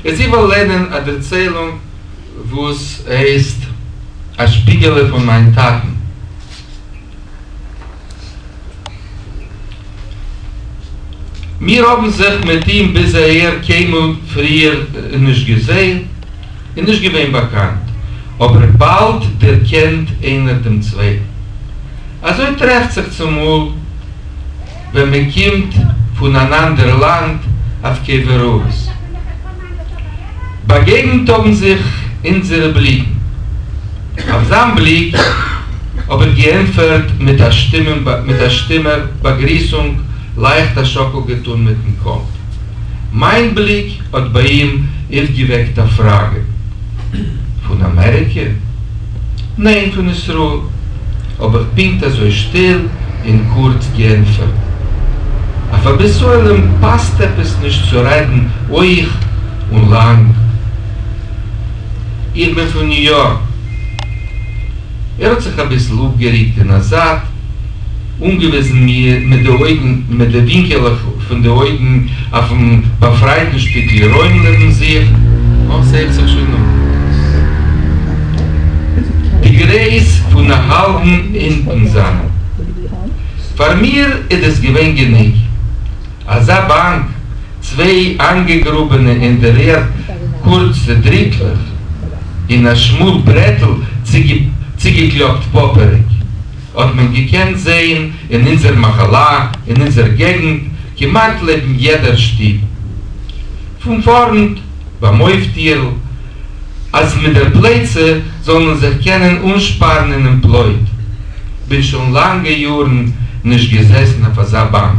יעצט איך וועל לערנען א דערציילונג וואס הייסט א שפיגעלע פון מיין טאטן. מיר האָבן זיך מיט אים ביז אַהער קײנמאָל פֿריִער נישט געזען און נישט געװען באַקאַנט, אָבער באַלד דערקענט אײנער דעם צװײטן. אַזױ טרעפֿט זיך צומאָל, װען מע קומט פֿון אַן אַנדער לאַנד אַף כּבֿר-אָרז. באַגעגנט האָבן זיך אונדזערע בליקן. אויף זײַן בליק האָב איך געענטפֿערט מיט אַ שטומעם מיט אַ שטומער באַגריסונג, לײַכט אַ שאָקל געטאָן מיטן קאָפּ. מײַן בליק האָט בײַ אים אויפֿגעוועקט אַ פֿראַגע, פֿון אַמעריקע? ניין פון ישראל האב איך פונקט אזוי שטיל און קורץ געענטפערט. אויף א ביסעלעם פאסט עפעס נישט צו רעדן הויך און לאנג. איך בין פון ניו יארק. ער האט זיך אביסל אפגעריקט אין א זייט. אָנגעוויזן מיר מיט די אויגן, מיט די ווינקעלעך פֿון די אויגן, אויפֿן באַפֿרײַטן שטיקל רוים לעבן זיך. אָ, ס'הערט זיך שוין אָן. די גרעס פֿון אַ האַלבן הינטן זײַן. פֿאַר מיר איז דאָס געווען גענוג. אַזאַ באַנק, צוויי אײַנגעגראָבענע אין דער ערד קורצע דריטלעך און אַ שמאָל ברעטל צוגעקלאָפּט פּאַפּעריק. האט מען געקענט זעהן אין אונזער מחלה אין אונזער געגענט כמעט לעבן יעדער שטוב פון פארנט ביים אויפטיהל אז מיט דער פלייצע זאל מען זיך קענען אנשפארן אינעם פלויט, בין שוין לאנגע יארן נישט געזעסן אויף אזא באנק.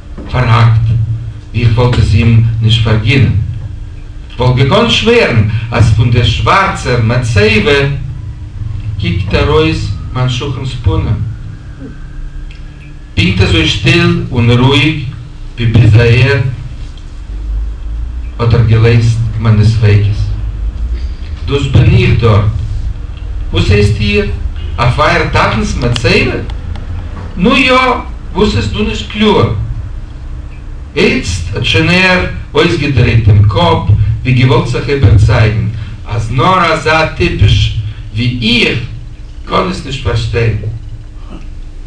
פארהאקט, ווי איך וואלט עס אים נישט פארגינען. כ'וואלט געקאנט שווערן אז פון דער שווארצער מצבה קוקט ארויס מיין שכן'ס פנים, פונקט אזוי שטיל און רואיג ווי ביז אהער האט ער געלעזט מיינע ספיקות. דאס בין איך דארט. וואס הייסט איר? אויף אייער טאטנ'ס מצבה? נו יא, וואס איז דא נישט קלאר? איצט האט שוין ער אויסגעדרייט דעם קאפ ווי געוואלט זיך איבערצייגן אז נאר אזא טיפש ווי איך קען עס נישט פארשטיין.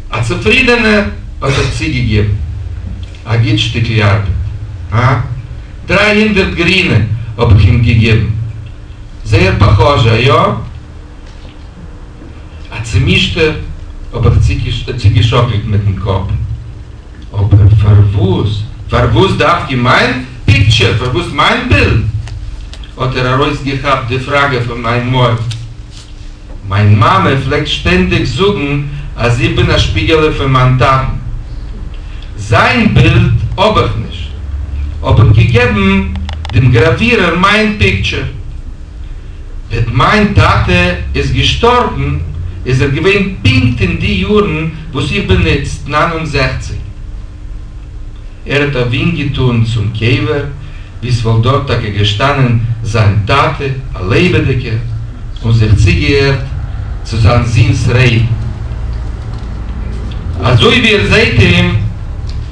א צופרידענער האט ער צוגעגעבן, א גוט שטיקל ארבעט, הא? דריי הונדערט גרינע האב איך אים געגעבן. זייער פאכאזשע, איא? א צעמישטער האב איך צוגעשאקלט מיטן קאפ. אבער פארוואס? פארוואס דווקא מיין פיקטשער? פארוואס מיין בילד? האט ער ארויסגעכאפט די פראגע פון מיין מויל. מיין מאמע פלעגט שטענדיג זאגן אז איך בין א שפיגעלע פון מיין טאטן. זיין בילד האב איך נישט. האב איך געגעבן דעם גראווירער מיין פיקטשער. וועט מיין טאטע איז געשטארבן איז ער געווען פונקט אין די יארן וואס איך בין איצט נײַן און זעכציק. ער האט א ווינק געטאן צום קבר ווי ס'וואלט דארט טאקע געשטאנען זיין טאטע א לעבעדיגער און זיך צוגעהערט צו זיין זון'ס רעדן אזוי ווי ער זעט אים.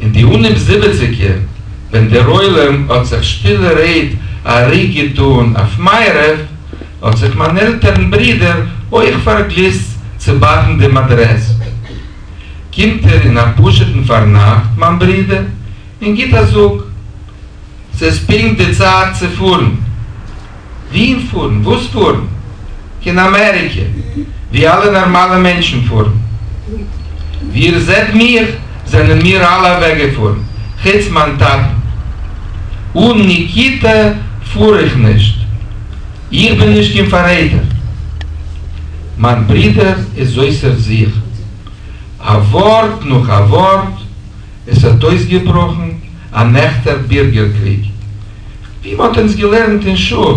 אין די אנהייב זיבעציגער ווען דער עולם האט זיך שטילע רעד א ריק געטאן אויף מערב, האט זיך מיין עלטערן ברודער אויך פארגליסט צו באקן דעם אדרעס. קומט ער אין א פשוט'ן פארנאכט מיין ברודער און גיט א זאג. ס'איז פונקט די צייט צו פארן. וואוהין פארן? וואס פארן? קיין אמעריקע, ווי אלע נארמאלע מענטשן פארן. ווי איר זעט מיך, זענען מיר אלע אוועקגעפארן, חוץ מיין טאטן. אן ניקיטא פאר איך נישט. איך בין נישט קיין פאררעטער. מיין ברודער איז אויסער זיך. א ווארט נאך א ווארט. עס האט אויסגעבראכן אן עכטער בירגער קריג, ווי מען האט אונז געלערנט אין שול,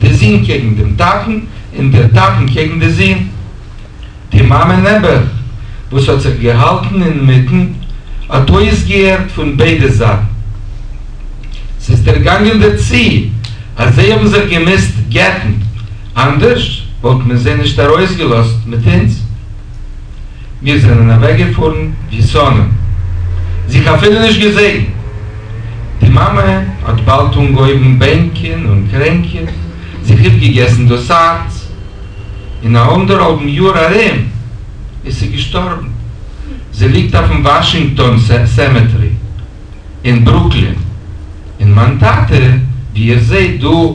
די זון קעגן דעם טאטן, און דער טאטן קעגן די זון. די מאמע נעבעך, וואס האט זיך געהאלטן אינמיטן, האט אויסגעהערט פון ביידע זייטן. ס'איז דערגאנגען דערצו אז זיי האבן זיך געמוזט גט'ן, אנדערש וואלט מען זיי נישט ארויסגעלאזט מיט אונז. מיר זענען אַװעקגעפֿאָרן װי סאָנען. זיך אַפֿילו נישט געזען. די מאַמע האָט באַלד אָנגעהױבן בענקען און קרענקען, זיך אָפּגעגעסן דאָס האַרץ. אין אַ אָנדערהאַלבן יאָר אַרום איז זי געשטאָרבן. זי ליגט אױפֿן װאַשינגטאָן סעמעטערי אין ברוקלין. און מײַן טאַטע, װי איר זעט דאָ,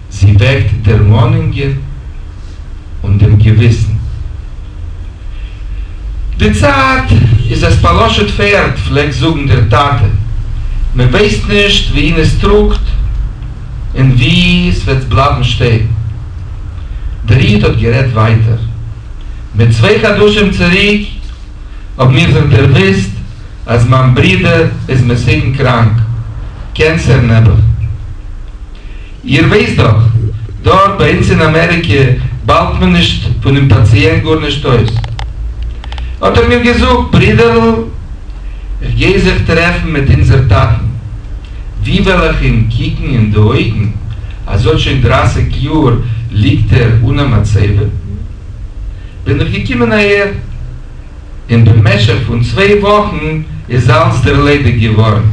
זי וועקט דערמאנונגען און דעם געוויסן. די צייט איז עס פאלאשעט פערד פלעגט זאגן דער טאטע, מען ווייסט נישט וואוהין עס טראגט און ווי עס וועט בלייבן שטעקן. דער איד האט גערעדט ווייטער. מיט צוויי חדשים צוריק האבן מיר זיך דערוואוסט אז מיין ברודער איז מסוכן קראנק, קענסער נעבעך. איר ווייסט דאך, דארט ביי אונז אין אמעריקע באלט מען נישט פונעם פאציענט גארנישט אויס. האט ער מיר געזאגט, ברודערל, כ'גיי זיך טרעפן מיט אונזער טאטן. ווי וועל איך אים קוקן אין די אויגן אז אט שוין דרייסיג יאר ליגט ער אן א מצבה? בין איך געקומען אהער, און במשך פון צוויי וואכן איז אלץ ערלעדיגט געווארן.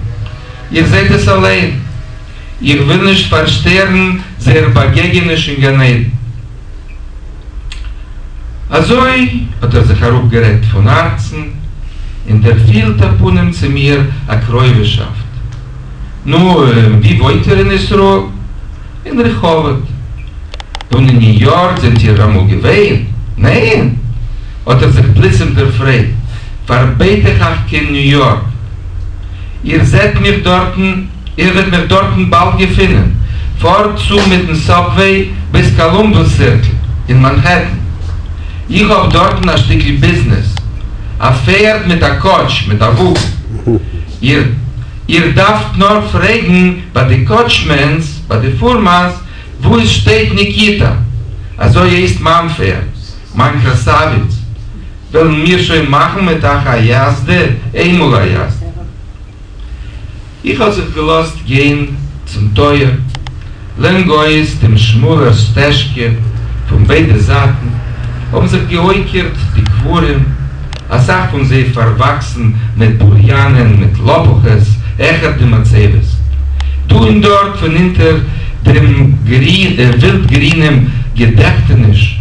איר זעט עס אליין. איך וויל נישט פארשטערן זייער באגעגעניש אין גן עדן. אזוי האט ער זיך אראפגערעדט פון הארצן, און דערפילט א פנים צו מיר א קרויבישאפט. נו, און ווי וואוינט איר אין ישראל? אין רחובות. און אין ניו יארק זענט איר אמאל געווען? ניין! האט ער זיך פלוצים דערפרעגט, פארבעט איך אייך קיין ניו יארק? איר זעט מיך דארטן? איר וועט מיך דארטן באלד געפינען. פארט צו מיטן סאבוועי ביז קאלומבוס סירקל אין מאנהעטן. איך האב דארטן א שטיקל ביזנעס. א פערד מיט א קאוטש מיט א וואגן. איר איר דארפט נאר פרעגן ביי די קאוטשמענס ביי די פארמאס וואו עס שטייט ניקיטא. אזוי הייסט מיין פערד. מיין קראסאוויץ. וועלן מיר שוין מאכן מיט אייך א יאזדע איינמאל א יאזדע. איך האב זיך געלאזט גיין צום טויער, לענג אויס דעם שמאלער סטעזשקע, פון ביידע זייטן האבן זיך געוייקערט די קברים, אסאך פון זיי פארוואקסן מיט בוריאנען, מיט לאפוכעס, העכער די מצבות, דא און דארט פון אונטער דעם ווילד-גרינעם געדעכטעניש,